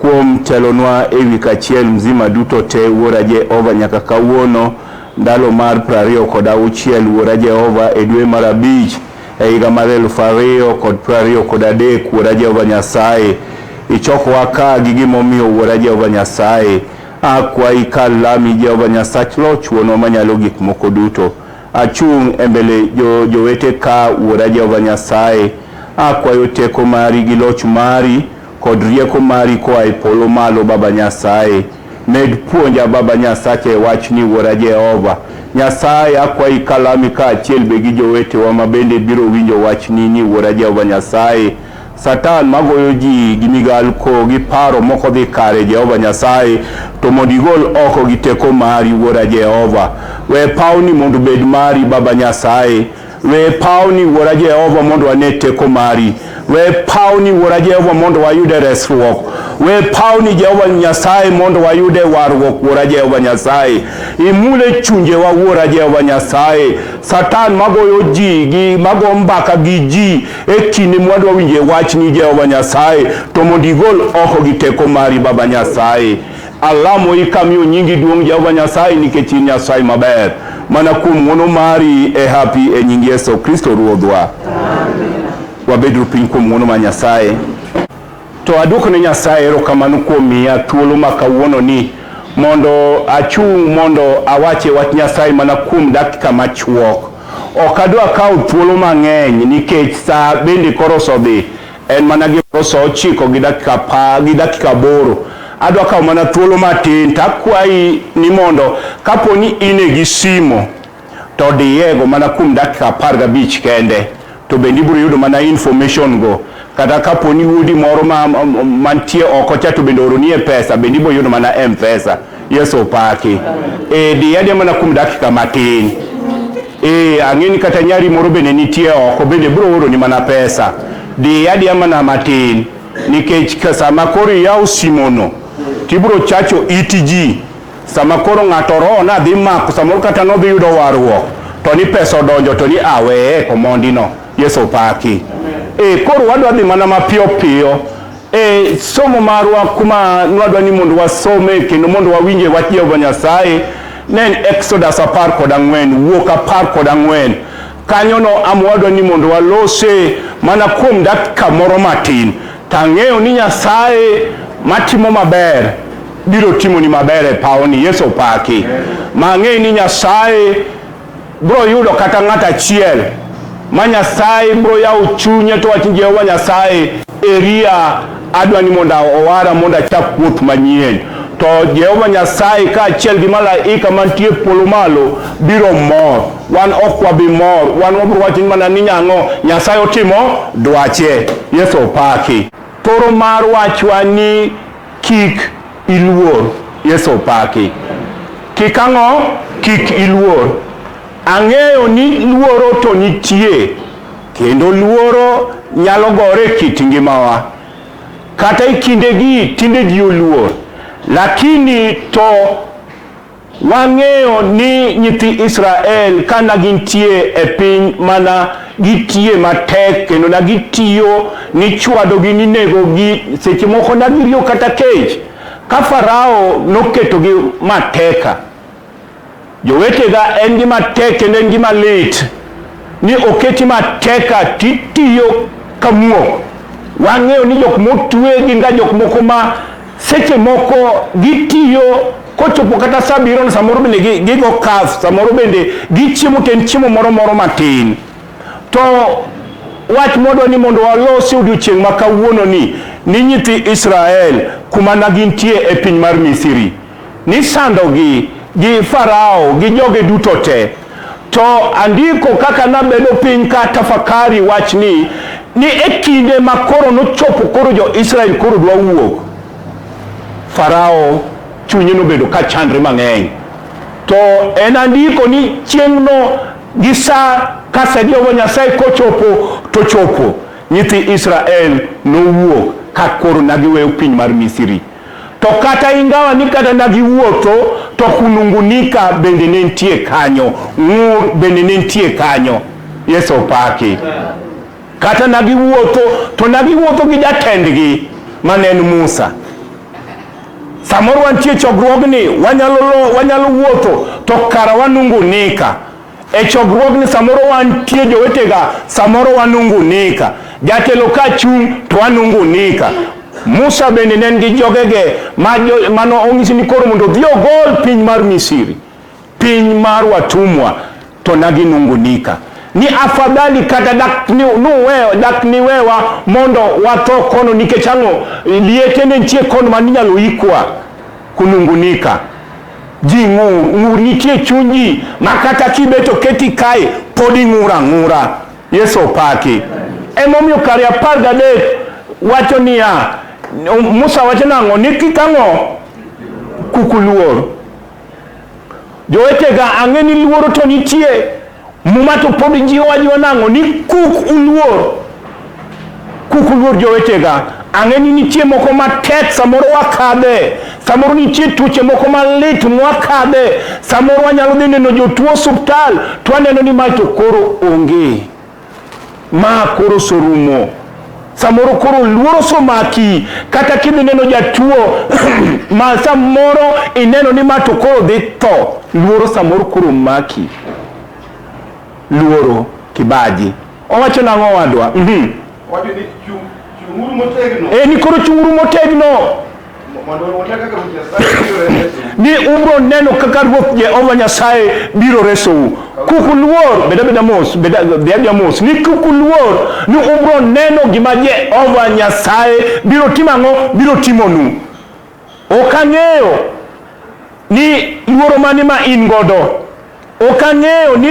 Kuom telonwa e wi kachiel mzima duto te, Wuora Jehova, nyaka kawuono, ndalo mar prariyo kod auchiel, Wuora Jehova, e dwe mar abich, e higa mar elufu ariyo kod prariyo kod adek, Wuora Jehova Nyasaye, ichokowa ka gi gimomiyo, Wuora Jehova Nyasaye, akwayi kar lami, Jehova Nyasach Loch, Wuonwa Manyalo Gik Moko Duto. Achung' e mbele jo, jowete ka, Wuora Jehova Nyasaye, akwayo teko mari gi loch mari, kod rieko mari koa e polo malo Baba Nyasaye. Med puonja Baba Nyasacha e wachni Wuora Jehova. Nyasaye akwayi kalami kaachiel be gi jowetewa ma bende biro winjo wachni ni Wuora Jehova Nyasaye. Satan magoyo ji gi migalko gi paro moko dhi kare Jehova Nyasaye to mondo igol oko gi teko mari Wuora Jehova. We pawni mondo bed mari Baba Nyasaye. We pawni wuora Jehova mondo wane teko mari. We pawni wuora Jehova mondo wayude resruok. We pawni Jehova Nyasaye mondo wayude warruok wuora Jehova Nyasaye. Imule chunjewa wuora Jehova Nyasaye. Satan magoyo ji gi mago mbaka gi ji e kinde mwadwa winje wachni Jehova Nyasaye to mondo igol oko gi teko mari Baba Nyasaye. Alamoi kamiyo nyingi duong' Jehova Nyasaye nikech in Nyasaye maber. Mana kuom ng'wono mari e hapi e nying Yesu Kristo Ruodhwa. Wabedru piny kuom ng'wono ma Nyasaye. To aduoko ne Nyasaye erokamano kuom miya thuolo ma kawuono ni mondo achung' mondo awache wach Nyasaye mana kuom dakika machuok. Ok adwa kawo thuolo mang'eny nikech saa bende koro oso dhi. En mana gimoro saa ochiko gi dakika apar gi dakika aboro. Adwa kawo mana thuolo matin to akwayi ni mondo kapo ni in e gi simo to diyego mana kuom dakika apar gabich kende to bende ibiro yudo mana information go kata kapo ni wuodi moro ma, ma, mantie oko cha to bende ooroni e pesa bende ibiro yudo mana M-Pesa. Yesu opaki. E, diyadia mana kuom dakika matin. E, ang'e ni kata nyari moro bende nitie oko bende biro oro ni mana pesa. Diyadia mana matin nikech sama koro iyawo simono tibiro chacho iti ji sama koro ng'ato roho nadhi mako samoro kata nodhi yudo warruok to ni pesa odonjo to ni aweye komondino. Yesu opaki. E, koro wadwa dhi mana mapiyo piyo E somo marwa kuma nwadwa ni mondo wasome kendo mondo wawinje wach Jehova Nyasaye ne en Exodus apar kod ang'wen, wuok apar kod ang'wen. Kanyono amwadwa ni mondo walose mana kuom dakika moro matin. To ang'eyo ni Nyasaye matimo maber biro timoni maber e pawoni. Yesu opaki. Ma ang'eyo ni Nyasaye Bro yudo kata ng'ato achiel ma Nyasaye bro yawo chunye to wach Jehova Nyasaye eria adwa ni mondo owara mondo achak wuoth manyien to Jehova Nyasaye kaachiel gi malaika mantie polo malo biro mor. Wan ok wabi mor, wan wabiro wacho mana ni nyang'o Nyasaye otimo dwache. Yesu opaki. Thoro mar wachwa ni Kik iluor. Yesu opaki. Kik ang'o? Kik iluor. Ang'eyo ni luoro to nitie, kendo luoro nyalo gore e kit ngimawa. Kata e kindegi tinde ji oluor, lakini to. Wang'eyo ni nyithi Israel ka na gintie e piny mana gitie matek kendo na gitiyo nichwadogi ninegogi seche moko na giriyo kata kech ka Farao noketogi mateka. Jowetega en gi matek kendo en gi malit ni oketi mateka titiyo kamuok. Wang'eyo ni jok motwe gin ga jok moko ma Seche moko gitiyo kochopo kata saa biro ni samoro bende gigo kas samoro bende gichiemo to en chiemo moro moro matin to wach modwa ni mondo walosi odiochieng' ma kawuono ni ni nyithi Israel kuma na gintie e piny mar Misri nisandogi gi Farao gi joge duto te To andiko kaka nabedo piny ka tafakari wachni ni e kinde ma koro nochopo koro jo-Israel koro dwa wuok, Farao chunye nobedo ka chandre mang'eny. To en andiko ni chieng'no gi sa ka sa Jehova Nyasaye kochopo to chopo, nyithi Israel nowuok ka koro nagiweyo piny mar Misri. To kata ingawa ni kata nagiwuotho to kunungunika bende ne nitie kanyo, ng'ur bende ne nitie kanyo. Yesu opaki. Kata nagiwuotho to nagiwuotho gi jatendgi ma ne en Musa. Samoro wantie chokruogni wanyalo, wanyalo wuotho to kara wanungunika E chokruogni samoro wantie jowetega, samoro wanungunika. Jatelo ka chung' to wanungunika. Musa bende ne en gi jogege mane onyisi ni koro mondo odhi ogol piny mar Misiri, piny mar watumwa, to naginungunika ni afadhali kata dak nuwewa dak niwewa mondo watho kono nikech ang'o liete ne nitie kono ma ninyalo ikwa kunungunika Ji ng'ur, ng'ur nitie e chuny ji ma kata kibet oketi kae pod ing'ur ang'ura. Yesu opaki. Emomiyo kare apar gadek wacho niya, Musa wacho nang'o? Ni kik ang'o? Kuk uluor. Jowetega, ang'e ni luoro to nitie. Muma to pod jiwo ajiwa nang'o ni kuk uluor kuk uluor jowetega ang'e ni nitie moko matek samoro wakadhe samoro nitie tuoche moko malit mwakadhe samoro wanyalo dhi neno jotuo osuptal to waneno ni mae to koro onge Ma koro sorumo. Samoro koro luoro somaki kata kidhi neno jatuo ma samoro ineno ni ma to koro dhi tho. Luoro samoro koro maki. Luoro kibaji. Owacho nang'o wadwa? Mhm. Wacho ni chung' chung'uru motegno. E ni koro chung'uru motegno. ni ubiro neno kaka Ruoth Jehova Nyasaye biro resou. Kuk uluor, bed abeda mos, bed abeda mos, ni kuk uluor ni ubiro neno gima Jehova Nyasaye biro timo ang'o, biro timonu. Ok ang'eyo ni luoro mane ma in godo. Ok ang'eyo ni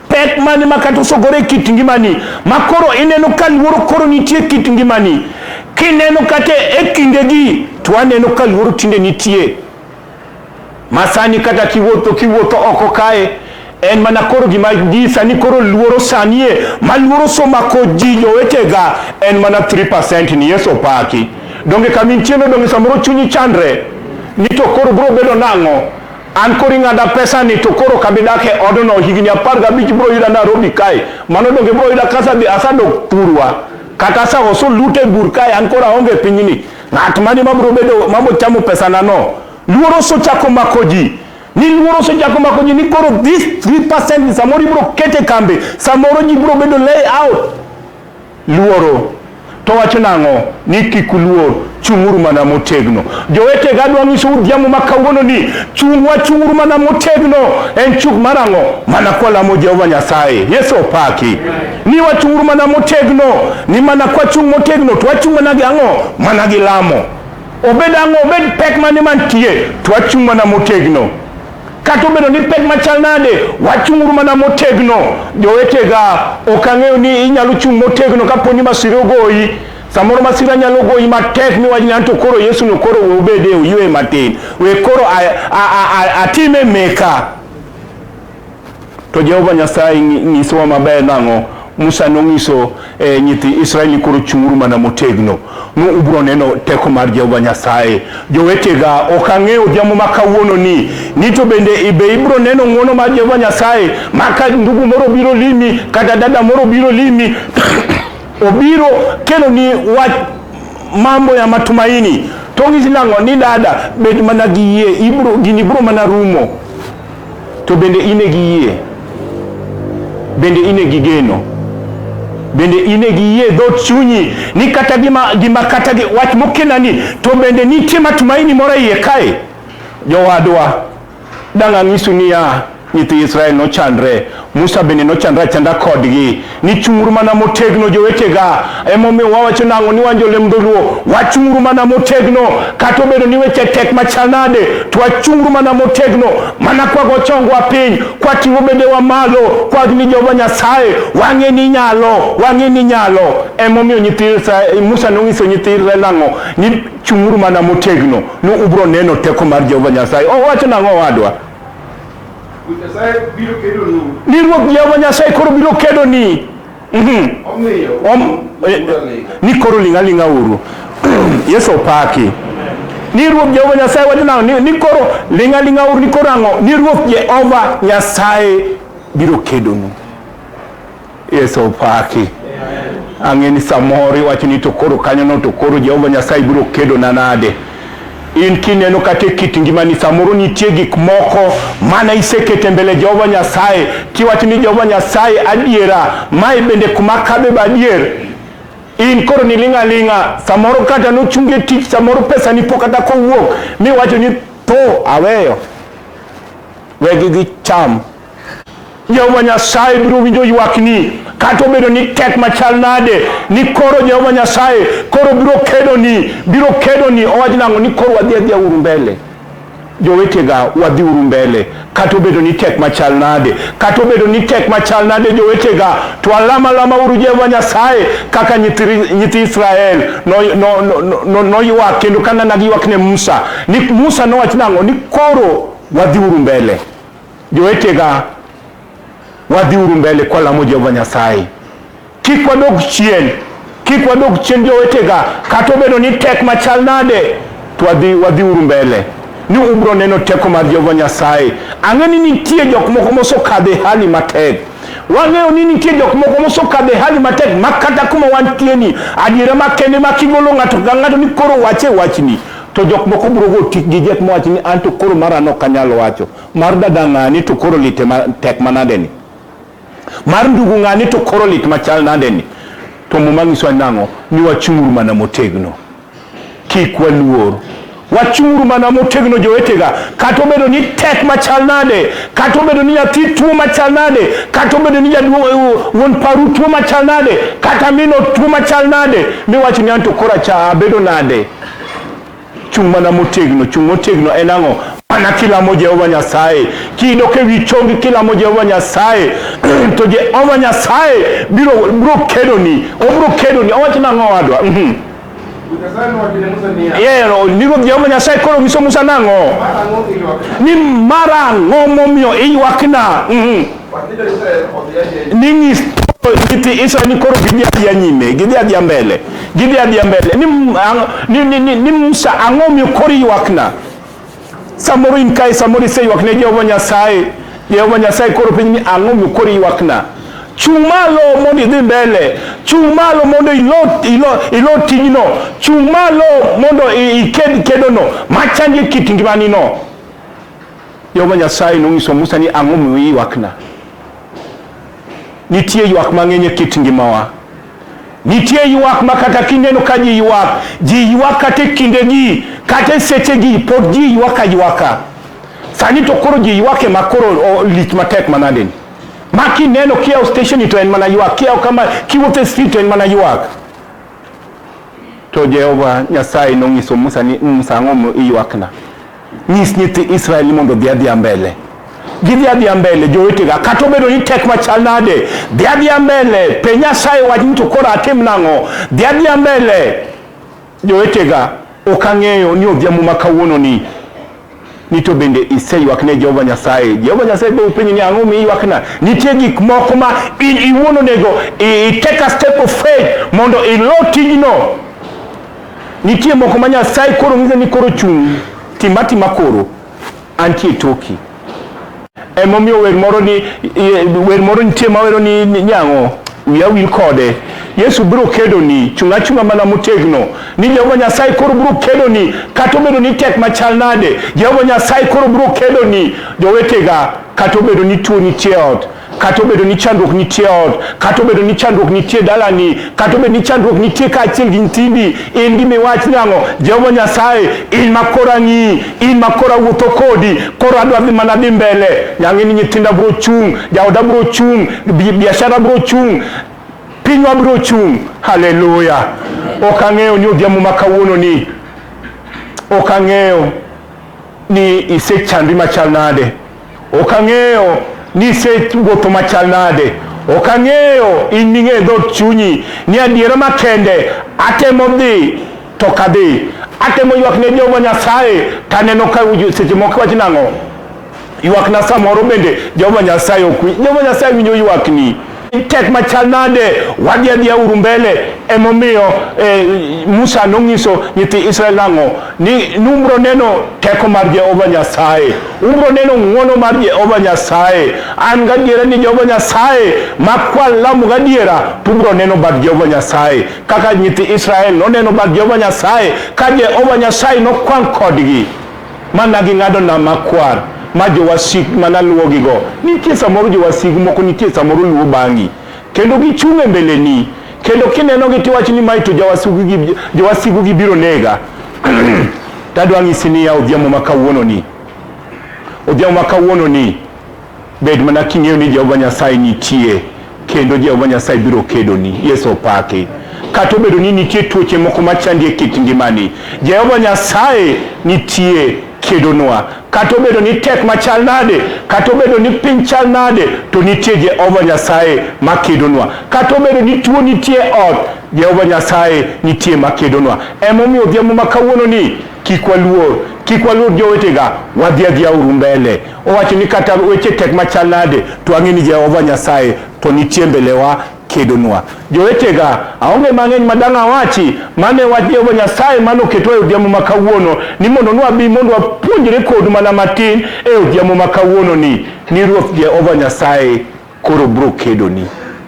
pek mane ma kata osogore e kit ngimani ma koro ineno ka luoro koro nitie e kit ngimani. Kineno kata e kindegi to aneno ka luoro tinde nitie. Ma sani kata kiwuotho kiwuotho oko kae en mana koro gima ji sani koro luoro sanie ma luoro somako ji jowetega en mana 3% ni Yesu opaki. Donge kama intieno donge samoro chunyi chandre ni to koro biro bedo nang'o? An koro ing'ada pesa ni to koro kabi dak e odno higni apar gabich bro yuda Nairobi kae. Mano donge bro yuda kasa bi asadok thurwa. Kata sa oso lute bur kae an koro aonge pinyni. Ng'at mani ma bro bedo ma bochamo pesa na no. Luoro so chako mako ji. Ni luoro so chako mako ji ni koro this 3% samoro ibro kete kambe. Samoro ji bro bedo lay out. Luoro. To wacho nang'o? Ni kik uluor, chung'uru mana motegno. Jowetega, adwa nyisou odhiambo ma kawuono ni chung' wachung'uru mana motegno. En chung' mar ang'o? Mana kwalamo Jehova Nyasaye. Yesu opaki. Ni wachung'uru mana motegno. Ni mana kwachung' motegno to wachung' mana gi ang'o? Mana gi lamo. Obed ang'o, obed pek mane mantie, to wachung' mana motegno. Kata obedo ni pek machal nade, wachung'uru mana motegno. Jowetega, ok ang'eyo ni inyalo chung' motegno kapo ni masire ogoyi. Samoro masira nyalo goyi matek miwach ni anto koro Yesu no koro we obede oywe matin. We koro atime meka. To Jehova Nyasaye nyisowa maber nang'o? Musa nonyiso eh, nyithi Israel ni koro chung'uru mana motegno, nu ubiro neno teko mar Jehova Nyasaye. Jowetega, ok ang'eyo odhiambo ma kawuono ni ni to bende ibe ibiro neno ng'uono mar Jehova Nyasaye ma ka ndugu moro biro limi kata dada moro biro limi obiro kelo ni wach mambo ya matumaini to ng'isi nang'o ni dada bed mana gi yie ibro gini bro mana rumo To bende in e gi yie? Bende in e gi geno? Bende in e gi yie dhout chunyi ni kata gima, gima kata gi, wach mokelani to bende nitie matumaini moro iye kae? Jowadwa, dang' anyisu niya, nyithi Israel nochandre, Musa bende nochandre achanda kodgi. ni chung'uru mana motegno jowetega emomiyo wawacho nang'o ni wan jolem dholuo wachung'uru mana motegno kata obedo ni weche tek machal nade to wachung'uru mana motegno mana kwago chongwa piny kwating'o bedewa malo kwag ni jehova nyasaye wang'e ni nyalo wang'e ni nyalo emomiyo nyithi musa nong'iso nyithi israel nang'o ni chung'uru mana motegno ni ubro neno teko mar jehova nyasaye owacho nang'o owadwa Ni Ruoth Jehova Nyasaye koro biro kedoni. Mhm. Eh, ni koro ling' aling'a uru. Yesu opaki. Ni Ruoth Jehova Nyasaye wacho nang'o? Ni koro ling' aling'a uru ni koro ang'o? Ni Ruoth Jehova Nyasaye biro kedonu. Yesu opaki. Ang'e ni samoro iwacho ni to koro kanyono to koro Jehova Nyasaye biro kedona nade? In kineno kata e kit ngimani samoro nitie gik moko mana isekete mbele Jehova Nyasaye kiwacho ni Jehova Nyasaye adiera, mae bende kuma kabe badier in koro ni ling'a ling'a, samoro kata nochunge tich, samoro pesa ni po kata kowuok miwacho ni to aweyo, wegi gi cham Jehova Nyasaye biro winjo ywakni kata obedo ni tek machal nade ni koro Jehova Nyasaye koro biro kedoni biro kedoni owach nang'o ni koro wadhi adhiya uru mbele jowetega wadhi uru mbele kata obedo ni tek machal nade kata obedo ni tek machal nade jowetega to alama lama uru Jehova Nyasaye kaka nyithi Israel noywak no, no, no, no, no kendo kanana giywak ne Musa ni Musa nowach nang'o ni koro wadhi uru mbele Jowetega, wadhiuru mbele kwa lamo Jehova Nyasaye, kik wadog chien, kik wadog chien jowetega, kata obedo ni tek machal nade, to wadhi wadhiuru mbele ni ubro neno teko mar Jehova Nyasaye. Ang'e ni nitie jok moko mosokadhe hali matek wang'eyo ni nitie jok moko mosokadhe hali matek ma kata kuma wantieni adiera makende ma kigolo ng'ato ka ng'ato ni koro wache wachni to jok moko bro go tik gi jek mowachi ni an to koro mara no kanyal wacho Mar dada ng'ani to koro lite ma tek manadeni. Mar ndugu ng'ani to koro lit machal nadeni. To muma nyisowa nang'o? Ni wachung'uru mana motegno. Kik waluor. Wachung'uru mana motegno jowetega. Kata obedo ni tek machal nade, kata obedo ni nyathi tuo machal nade, kata obedo ni jaduong' wuon paru tuo machal nade, kata mino tuo machal nade, miwacho ni anto koro acha abedo nade. Chung' mana motegno, chung' motegno en ang'o? Mana kilamo Jehova Nyasaye, kidok ewi chongi kilamo Jehova Nyasaye to Jehova Nyasaye biro biro kedoni, obiro kedoni. Owacho nang'o owadwa? Mhm. Yero, ndiko Jehova Nyasaye koro nyiso Musa nang'o? Ni mara ang'o momiyo iywakna? Mhm. ni ng'is nyithi Israel ni koro gidhi adhiya nyime, gidhi adhiya mbele, gidhi adhiya mbele. Ni, ni, ni, ni, ni Musa ang'o miyo koro ywakna? Samoro in kae, samoro iseywak ne Jehova Nyasaye. Jehova Nyasaye koro penji ni ang'o miyo koro ywakna? Chung' malo mondo idhi mbele, chung' malo mondo ilo, ilo, ilo tijno, chung' malo mondo iked kedono machandi e kit ngimanino. Jehova Nyasaye nonyiso Musa ni ang'o omiyo iywakna. Nitie ywak mang'eny e kit ngimawa. Nitie ywak ma kata kineno ka ji ywak, ji ywak kata e kindegi, kata e sechegi, pod ji ywak aywaka. Sani to koro ji ywak ema koro lich matek manadeni. Ma kineno kiyawo stesheni to en mana ywak, kiyawo kama kiwuotho e street to en mana ywak. To Jehova Nyasaye nonyiso Musa ni Musa ang'o omiyo iywakna. Nyis nyithi Israel ni mondo odhi adhiya mbele gidhi adhiya mbele jowetega kata obedo ni tek machal nade dhi adhiya mbele pe nyasaye wach ni to koro atim nang'o dhi adhiya mbele jowetega ok ang'eyo ni odhiambo ma kawuono ni ni to bende iseywak ne jehova nyasaye jehova nyasaye be upenyi ni ang'o mi iywakna nitie gik moko ma in iwuon onego i take a step of faith mondo ilo tijno Nitie moko ma Nyasaye koro ng'iso ni koro chung' tima tima koro antie toki. Emomiyo wer moro ni wer moro nitie ma wero ni nyang'o wiya wil kode. Yesu biro kedo ni chung' achung'a mana motegno ni Jehova Nyasaye koro biro kedo ni kata obedo ni tek machal nade Jehova Nyasaye koro biro kedo ni jowetega kata obedo ni tuo nitie ot kata obedo ni chandruok nitie ot kata obedo ni chandruok nitie dalani kata obedo ni chandruok nitie kaachiel gi nyithindi in gi miwach nang'o jehova nyasaye in ma koro ang'i in ma koro awuotho kodi koro adwa dhi mana dhi mbele nyang'e ni nyithinda bro chung' jaoda bro chung' biashara bro chung' pinywa bro chung' haleluya ok ang'eyo ni odhiambo ma kawuono ni ok ang'eyo ni isechandri machal nade, ok ang'eyo ni isewuotho machal nade, ok ang'eyo in ming'eyo dhood chunyi ni adiera makende atemo dhi to kadhi atemo ywak ne Jehova Nyasaye to aneno ka seche moko wach nang'o ywakna samoro bende Jehova Nyasaye ok winj. Jehova Nyasaye winjo ywakni. tek machal nade wadhi adhiya uru mbele emomiyo eh, musa nong'iso nyithi israel nang'o ni numbro neno teko mar jehova nyasaye ubro neno ng'wono mar jehova nyasaye an gadiera ni jehova nyasaye makwal lamu gadiera tubro neno bad jehova nyasaye kaka nyithi israel noneno bad jehova nyasaye ka jehova nyasaye nokwang' kodgi Ma na ging'ado nam makwar ma jowasik ma naluwogigo nitie samoro jowasigu moko nitie samoro luwo bang'i kendo gichung' e mbeleni kendo kinenogi tiwacho ni mae to jowasigu gibiro nega tadwa ng'isi niya odhiambo ma kawuononi odhiambo ma kawuononi Bed mana king'eyo ni Jehova Nyasaye nitie kendo Jehova Nyasaye biro kedoni. Yesu opaki. Kata obedo ni nitie tuoche moko machandi e kit ngimani, Jehova Nyasaye nitie kedonwa. Kata obedo ni tek machal nade, kata obedo ni piny chal nade, to nitie Jehova Nyasaye makedonwa. Kata obedo ni tuo nitie ot, Jehova Nyasaye nitie makedonwa. Emomiyo odhiambo ma kawuono ni kik waluor, kik waluor jowetega, wadhi adhiya uru mbele. Owacho ni kata weche tek machal nade, to wang'e ni Jehova Nyasaye to nitie mbelewa kedonwa. Jowetega, aonge mang'eny ma dang' awachi, mano e wach Jehova Nyasaye mane oketwa e odhiambo ma kawuono, ni mondo nwabi mondo wapuonjre kodu mana matin e odhiambo ma kawuononi, ni Ruoth Jehova Nyasaye Koro bro kedoni.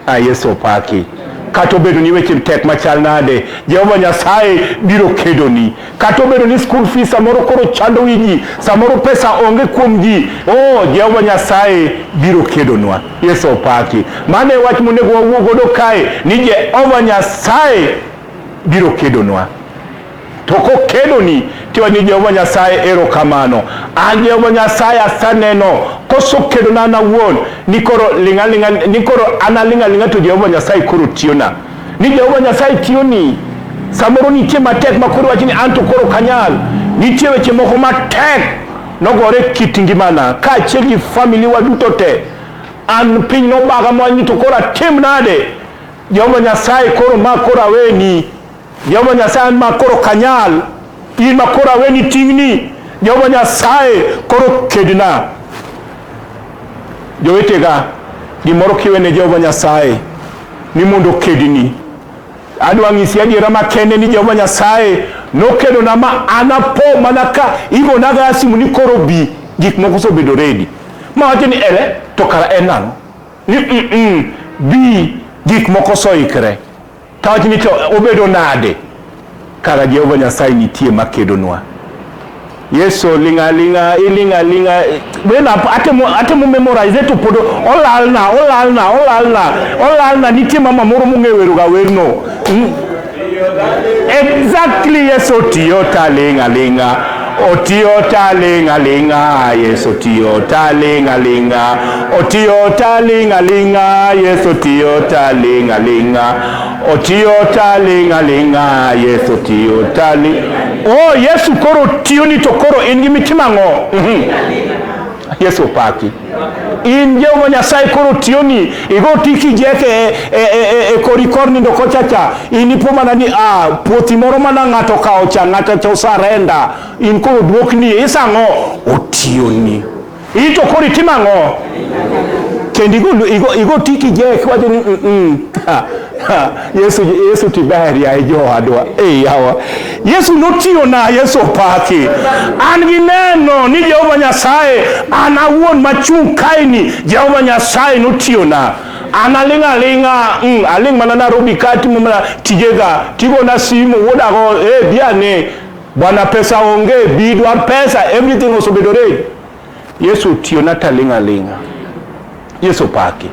A Yesu opaki. Kata obedo ni weche tek machal nade, Jehova Nyasaye biro kedoni. Kata obedo ni school fees samoro koro chando wi ji, samoro pesa onge kuom ji, oh, Jehova Nyasaye biro kedonwa. Yesu opaki. Mano e wach monego wawuo godo kae ni Jehova Nyasaye biro kedonwa. To kokeloni tiwa ni Jehova Nyasaye erokamano. An Jehova Nyasaye aseneno kosokelona an awuon ni koro ling'aling'a ni koro an aling'aling'a to Jehova Nyasaye koro tiyona. Ni Jehova Nyasaye tiyoni samoro nitie matek ma koro wachi ni an to koro kanyal. Nitie weche moko matek nogore kit ngimana kaachiel gi famili wa duto te. An piny nobaga mwanyi to koro atim nade? Jehova Nyasaye koro ma koro aweni Jehova Nyasaye an ma koro kanyal, in ma koro aweni ting'ni, Jehova Nyasaye koro kedna. Jowetega, gimoro kiwe ne Jehova Nyasaye ni mondo okedni. Adwa ng'isi adiera makende ni Jehova Nyasaye nokedona ma an apo mana ka igonaga simu ni koro bi, gik moko osebedo redi. Ma wacho ni ere to kara en nang'o? Ni mm, mm, bi, gik moko soikre. Kawach ni to obedo nade kara Jehova Nyasaye nitie makedonwa? Yesu linga linga ilinga linga when atemo atemo memorize to podo olalna olalna olalna olalna nitie mama moro mong'ewero ga werno hmm? exactly yeso tiyo talinga linga Otiyo talinga linga, Yesu tiyo talinga linga. Otiyo talinga linga, Yesu tiyo talinga linga. Otiyo talinga linga, Yesu tiyo tali. Oh, Yesu koro tiyo ni to koro in gi mitima ng'o? Mhm. Yesu opaki. in jehova nyasaye koro tiyoni igo tiki jeke e, e, e, e kori kor nindo kochacha inipo mana ni ah, puothi moro mana ng'ato kawo cha ng'ato cha osarenda in koro dwokni isang'o otiyoni ito koro itimo ang'o kendo igo, igo, igo tiki jeke wacho ni mm, mm, ha, ha, yesu, yesu tiber yaye jowadwa e yawa Yesu notiyo na Yesu opaki. An gi neno ni Jehova Nyasaye an awuon machung' kaeni Jehova Nyasaye notiyo na an aling' aling'a mm, aling' mana Nairobi ka timo mana tijega tigona simu wuodago e eh, biane bwana pesa onge bidwar pesa everything osobedore Yesu otiyona taling' aling'a. Yesu opaki.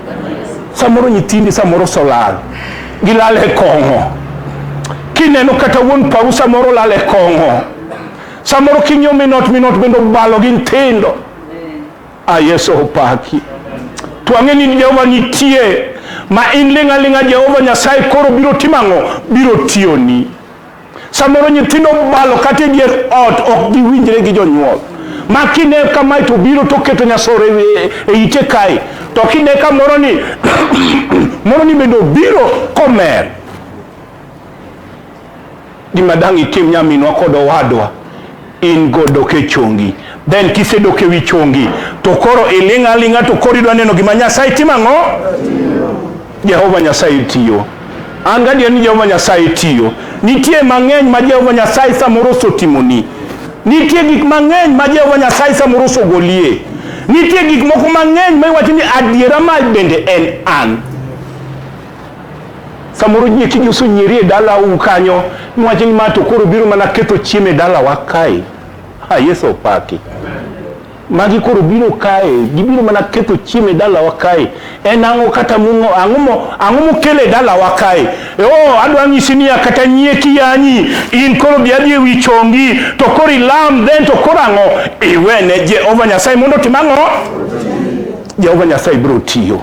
Samoro nyithindi samoro osolal. Gilal e kong'o. Kineno kata wuon paru samoro olal e kong'o. Samoro kinyo minot minot bende obalo gi nyithindo. A ah, Yesu opaki. To ang'e ni Jehova nitie ma in ling' aling'a Jehova Nyasaye koro biro timo ang'o? Biro tiyoni. Samoro nyithindo balo kata e dier ot ok giwinjre gi jonyuol. Ma kine kamae to biro to keto nyasore e, e ite kae. To kine ka moro ni moro ni bende obiro komer. Gima dang' itim nyaminwa kod owadwa in go dok e chongi then kisedok e wi chongi to koro iling' aling'a to koro idwa neno gima nyasaye timo ang'o jehova nyasaye tiyo an gadier ni jehova nyasaye tiyo nitie mang'eny ma jehova nyasaye samoro osotimoni nitie gik mang'eny ma jehova nyasaye samoro osogolie nitie gik moko mang'eny ma iwacho ni adiera ma bende en an Samoro ji eki osonyeri e dala u kanyo, niwach ni ma to koro biro mana ketho chiemo e dalawa kae. Ha, Yesu opaki. Magi koro biro kae, gibiro mana ketho chiemo e dalawa kae. En ang'o kata mung'o, ang'o mo, ang'o mokelo e dalawa kae? E, oh, adwa nyisi niya kata nyie kiyanyi, in koro bi adhi ewi chongi, to koro ilam, then to koro ang'o? Iwene Jehova Nyasaye mondo otim ang'o? Jehova Nyasaye biro tiyo.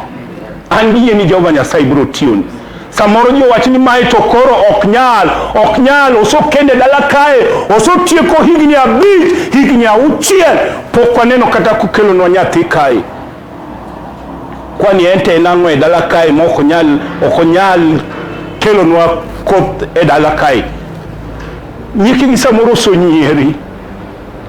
An yie ni Jehova Nyasaye biro tiyoni. Samoro ji owach ni mae to koro ok nyal, ok nyal, osokende dala kae, osotieko higni abich, higni auchiel, pok waneno kata kukelonwa nyathi kae. Kwani ente en ang'o e dala kae ma ok onyal, ok onyal kelonwa koth e dala kae? Nyikigi samoro osonyieri.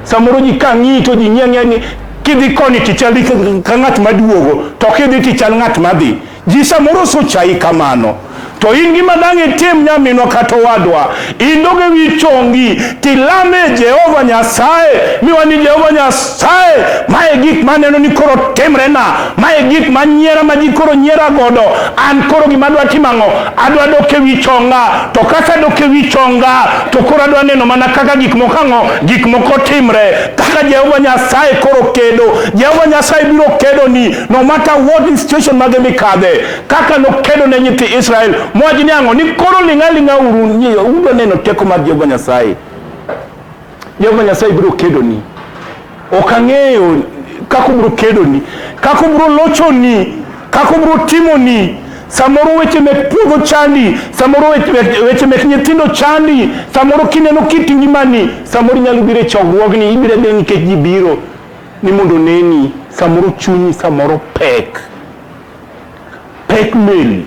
Samoro ji ka ng'iyi to ji ng'iya ng'iya ni kidhi koni tichal ka ng'at maduogo to kidhi tichal ng'at madhi. Ji samoro sochayi kamano. To in gima dang' itim nyaminwa kata owadwa, indoge wi chongi tilame Jehova Nyasaye miwa ni Jehova Nyasaye, mae gik maneno ni koro timrena, mae gik manyiera ma ji koro nyiera godo. An koro gima adwa timo ang'o? Adwa dok ewi chonga, to kaka adok ewi chonga to koro adwa neno mana kaka gik moko ang'o gik moko timre kaka jehova nyasaye koro kedo jehova nyasaye biro kedo ni no matter what is situation mage mikadhe kaka nokedo ne nyithi israel mowach ni ang'o ni koro ling'a ling'a uru udwa neno teko mar jehova nyasaye jehova nyasaye biro kedo ni Ok ang'eyo kaka obiro kedoni, kaka obiro lochoni, kaka obiro timoni. Samoro weche mek puodho chandi, samoro weche mek nyithindo chandi, samoro kineno kit ngimani, samoro inyalo biro e chokruogni, ibiro abira nikech ji biro ni mondo oneni, samoro chunyi samoro pek, pek meli.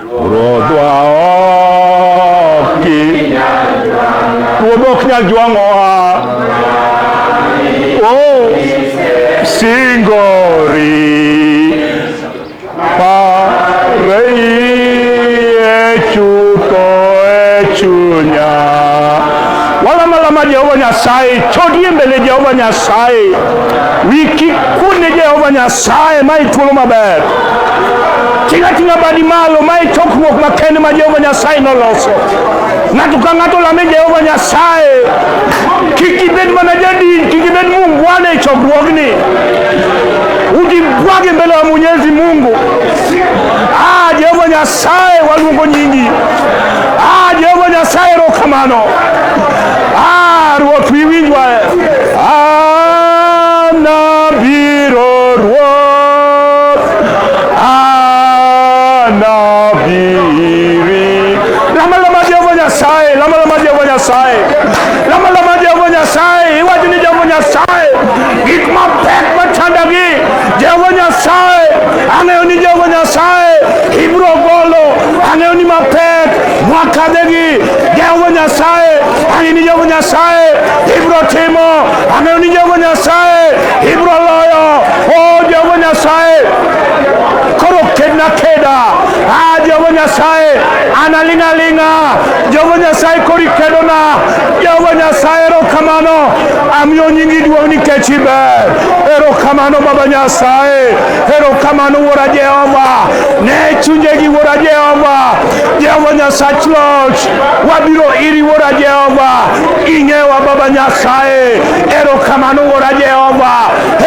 Ruodhwa ok ki Ruodhwa ok nyal jwang'owa Oh singori Pareye chutho e chunya Walama lama Jehova Nyasaye chodie mbele Jehova Nyasaye wiki kune Jehova Nyasaye ma ithuolo maber Ting' ating'a badi malo, ma e chokruok makende ma Jehova Nyasaye noloso. Ng'ato ka ng'ato lame Jehova Nyasaye. Kik ibed mana jadin, kik ibed muungwana e chokruogni. Ujibwage mbele ya Mwenyezi Mungu. Ah, Jehova Nyasaye, waluongo nyingi. Ah, Jehova Nyasaye, erokamano. Ah, Ruoth wi winjwa. Anabiro Ruoth. Anabiri. Lama lama Jehova Nyasaye, lama lama Jehova Nyasaye. Lama lama Jehova Nyasaye, iwach ni Jehova Nyasaye. Gik mapek machandogi, Jehova Nyasaye. Ang'eyo ni Jehova Nyasaye ibiro golo. Ang'eyo ni mapek Mwakadegi Jehova Nyasaye ang'e ni Jehova Nyasaye ibiro timo ang'eyo ni Jehova Nyasaye ibiro loyo o oh, Jehova Nyasaye koro kedna keda a ah, Jehova Nyasaye analing'a ling'a Jehova Nyasaye kori kedona Jehova Nyasaye erokamano amiyo nyingi duong' nikech iber erokamano Baba Nyasaye erokamano Wuora Jehova ne chunjegi Wuora Jehova Jehova Nyasach Loch, wabiro iri Wuora Jehova, ing'ewa Baba Nyasaye. Erokamano Wuora Jehova,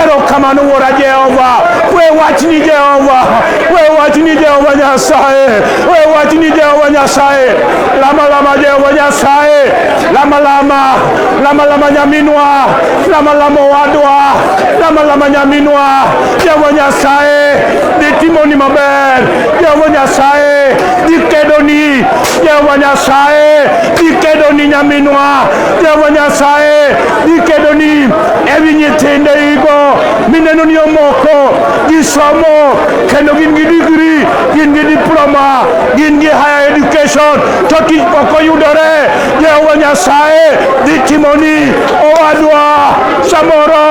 erokamano Wuora Jehova. We wachni Jehova, we wachni Jehova Nyasaye, we wachni Jehova Nyasaye. Lama lama Jehova Nyasaye, lama lama, lama lama nyaminwa, lama lama wadwa, lama lama nyaminwa. Jehova Nyasaye, ditimoni maber. Jehova Nyasaye dikedoni Jehova Nyasaye dikedoni nyaminwa Jehova Nyasaye dikedoni ewi nyithinde igo mineno ni omoko gisomo kendo gin gi digri gin gi diploma gin gi higher education to tich pok oyudore Jehova Nyasaye dhi timoni owadwa samoro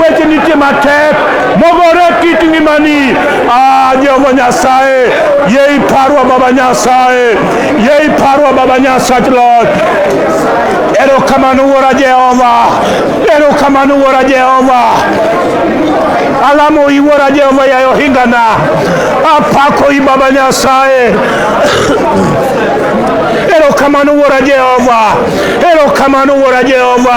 weche nitie matek mogore kit ngimani ah, jehova nyasaye ye iparwa baba nyasaye ye iparwa baba nyasach loch erokamano wuora jehova erokamano wuora jehova alamo iwuora jehova yaye ohingana apako i baba nyasaye erokamano wuora jehova erokamano wuora jehova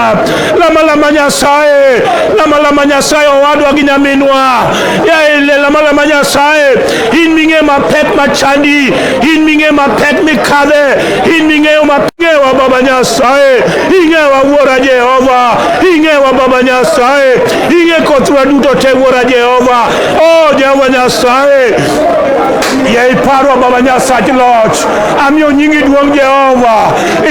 lama lama nyasaye lama lama nyasaye owadwa gi nyaminwa yaele lama lama nyasaye in ming'eyo mapek machandi in ming'eyo mapek mikadhe in ming'eyo mapingewa baba nyasaye ing'ewa wuora jehova ing'ewa baba nyasaye ing'e kothwa duto te wuora jehova o jehova nyasaye ye iparwa baba nyasach loch amiyo nyingi duong' jehova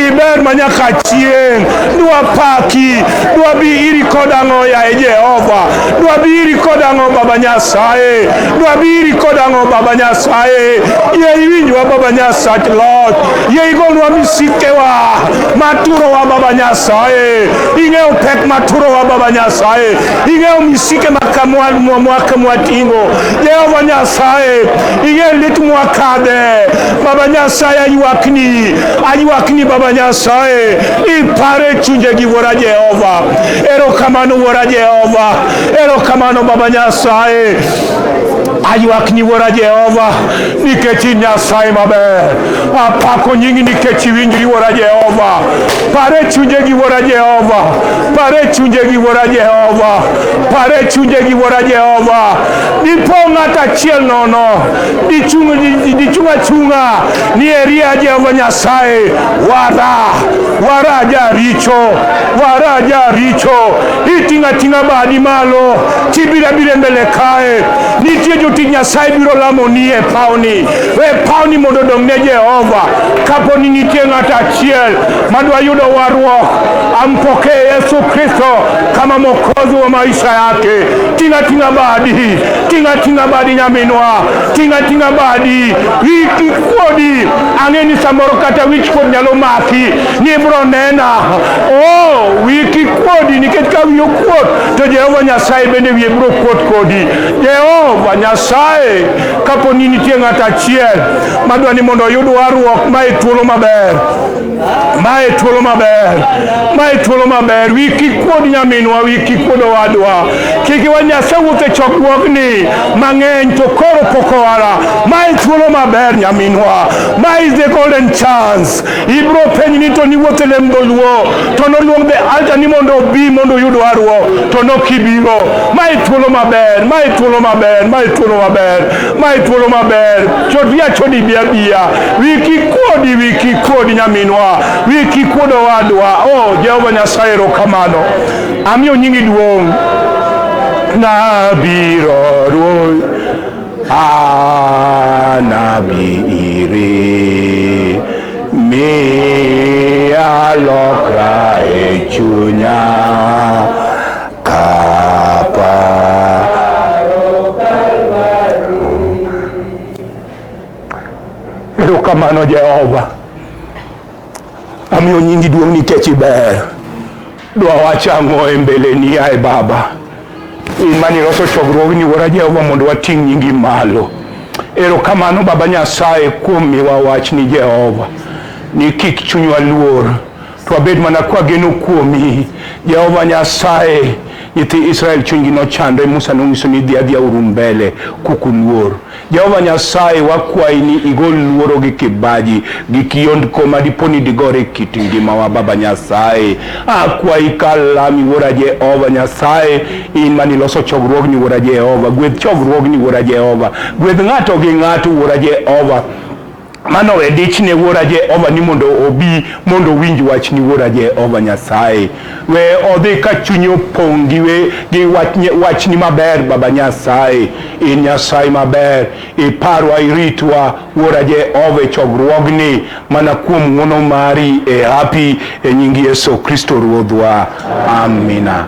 iber ma nyaka chieng' dwapaki dwabi iri kod ang'o yaye jehova dwabi iri kod ang'o baba nyasaye dwabi iri kod ang'o baba nyasaye ye iwinjwa baba nyasach loch ye igonwa misikewa maturowa baba nyasaye ing'eyo pek maturowa baba nyasaye ing'eyo misike mwaka mwatingo jehova nyasaye ing'eyo lit mwakadhe baba nyasaye aywakni aywakni baba nyasaye Ipare chunje gi wuora Jehova. Erokamano wuora Jehova. Erokamano Baba Nyasaye. Aywak ni wuora Jehova nikech in Nyasaye maber. Apako nyingi nikech iwinjri wuora Jehova. Pare chunje gi wuora Jehova. Pare chunje gi wuora Jehova. Pare chunje gi wuora Jehova. Dipo ng'at achiel nono. Dichung' achung'a. ni eria Jehova Nyasaye wara wara jaricho wara jaricho iting'a ting'a badi malo chibira bire mbele kae nitie jotich Nyasaye biro lamo ni e pawni we pawni mondo odong' ne Jehova kapo ni nitie ng'ato achiel madwa yudo warruok ampokee Yesu Kristo kama mwokozi wa maisha yake ting'a ting'a badi ting'a ting'a badi nyaminwa Tinga tinga badi, wiki kodi, ang'e ni samoro kata wich kod nyalo maki, ni ibro nena. Oh, wiki kodi, nikech ka wiyo kuot, to Jehova Nyasaye bende wiye bro kuot kodi. Jehova Nyasaye, kapo ni nitie ng'at achiel madwa ni mondo oyud warruok, ma e thuolo maber. Mae thuolo maber, mae thuolo maber. Wi kik kuod nyaminwa, wi kik kuod owadwa. Kik iwa Nyasaye wuok e chokruogni mang'eny to koro pok owara. Mae thuolo maber nyaminwa. Ma is the golden chance. Ibro penj ni to niwuok e lem dholuo to noluong the altar ni mondo obi mondo oyud warruok to nokibiro. Mae thuolo maber, mae thuolo maber, mae thuolo maber. Mae thuolo maber, chodi achodi bi abiya, wiki kuodi wiki kuodi nyaminwa, wiki kuod owadwa. O oh, Jehova Nyasaye, erokamano, amiyo nyingi duong'. Nabiro Ruoth, anabiri miya lokra e chunya Erokamano Jehova, amiyo nyingi duong' nikech iber. Dwa wacho ang'o e mbeleni yaye Baba? In mane iloso chokruogni Wuora Jehova mondo wating' nyingi malo. Erokamano Baba Nyasaye kuom miwa wachni Jehova, ni kik chunywa luor Twabed mana kwageno kuomi Jehova Nyasaye. Nyithi Israel chunygi nochandre, Musa nonyiso ni dhi adhiya uru mbele kukuluor. Jehova Nyasaye, wakwayi ni igol luoro gi kibaji gi kiondko ma dipo ni digore kit ngimawa. Baba Nyasaye, akwayi kalami Wuora Jehova Nyasaye, in mane iloso chokruogni Wuora Jehova, gwedh chokruogni Wuora Jehova, gwedh ng'ato gi ng'ato Wuora Jehova Mano we dich ne Wuora Jehova ni mondo obi mondo owinj wach ni Wuora Jehova Nyasaye. We odhi ka chunye opong' gi we gi wach nye- wach ni maber Baba Nyasaye. In Nyasaye maber, iparwa iritwa Wuora Jehova e chokruogni mana kuom ng'wono mari e hapi e nying Yesu Kristo Ruodhwa. Amina.